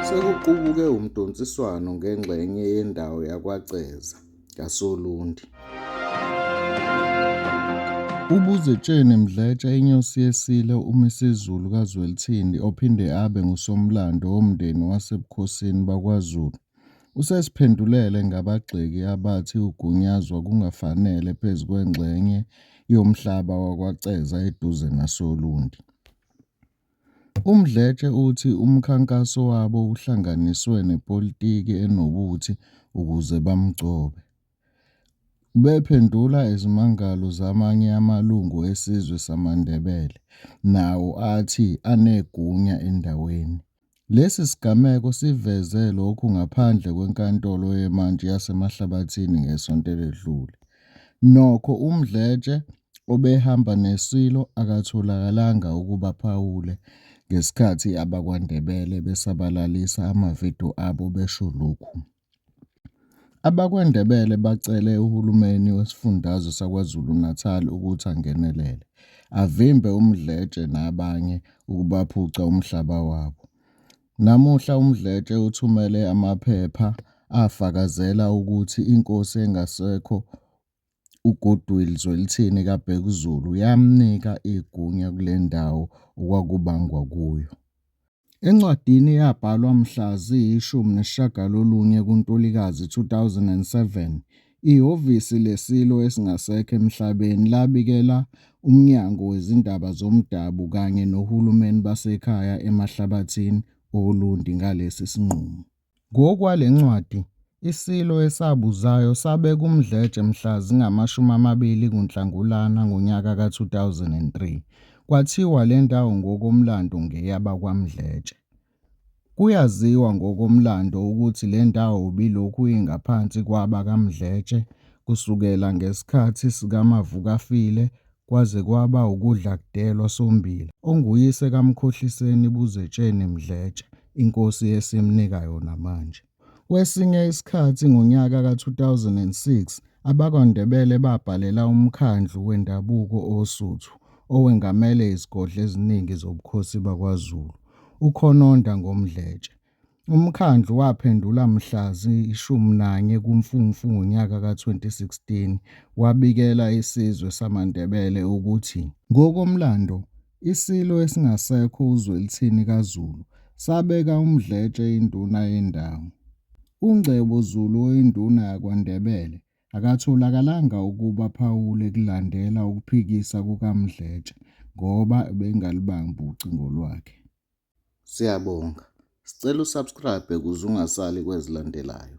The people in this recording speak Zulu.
Sekuqubuke umdonsiswano ngengxenye yendawo yakwaCeza kaSolundi. UBuzetsheni Mdletshe inyosi yesilo umisiZulu kaZwelithini ophinde abe ngusomlando womndeni wasebukhosini bakwaZulu usesiphendulele ngabagxeki abathi ugunyazwa kungafanele phezu kwengxenye yomhlaba wakwaCeza eduze nasoLundi. UMdletshe uthi umkhankaso wabo uhlanganiswe nepolitiki enobuthi ukuze bamgcobe. Ubephendula izimangalo zamanye amalungu esizwe samaNdebele nawo athi anegunya endaweni. Lesi sigameko siveze lokhu ngaphandle kweNkantolo yeMantshi yaseMahlabathini ngesonto eledlule. Nokho uMdletshe obehamba neSilo akatholakalanga ukuba aphawule ngesikhathi abakwaNdebele besabalalisa ama-video abo besho lokhu. AbakwaNdebele bacele uhulumeni wesifundazwe saKwaZulu-Natal ukuthi angenelele, avimbe uMdletshe nabanye ukubaphuca umhlaba wabo. Namuhla uMdletshe uthumele amaphepha afakazela ukuthi inkosi engasekho uGoodwill Zwelithini kaBhekuzulu yamnika igunya kule ndawo okwakubangwa kuyo. Encwadini eyabhalwa mhla ziyi-19 kuNtulikazi 2007, ihhovisi leSilo esingasekho emhlabeni labikela uMnyango Wezindaba Zomdabu kanye noHulumeni Basekhaya Emahlabathini oLundi ngalesi sinqumo. Ngokwale ncwadi, iSilo esabuzayo sabe kuMdletshe mhla zingama-20 kuNhlangulana ngonyaka ka-2003. Kwathiwa le ndawo ngokomlando ngeyabakwaMdletshe. Kuyaziwa ngokomlando ukuthi le ndawo ibilokhu ingaphansi kwabakaMdletshe kusukela ngesikhathi sikaMavukafile kwaze kwaba ukudla kudelwa sombila onguyise kaMkhohliseni Buzetsheni Mdletshe inkosi esimnika yona manje. Kwesinye isikhathi ngonyaka ka-2006 abakwaNdebele babhalela uMkhandlu Wendabuko Osuthu owengamele izigodlo eziningi zobukhosi bakwaZulu uKhononda ngoMdletshe Umkhandlu waphendula mhla ziyi-11 kuMfumfu ngonyaka ka-2016 wabikela isizwe samaNdebele ukuthi ngokomlando iSilo esingasekho uZwelithini kaZulu sabeka uMdletshe induna yendawo. UNgcebo Zulu oyinduna yakwaNdebele akatholakalanga ukuba aphawule kulandela ukuphikisa kukaMdletshe ngoba ebengalubambi ucingo lwakhe. Siyabonga. Sicela usubscribe ukuze ungasali kwezilandelayo.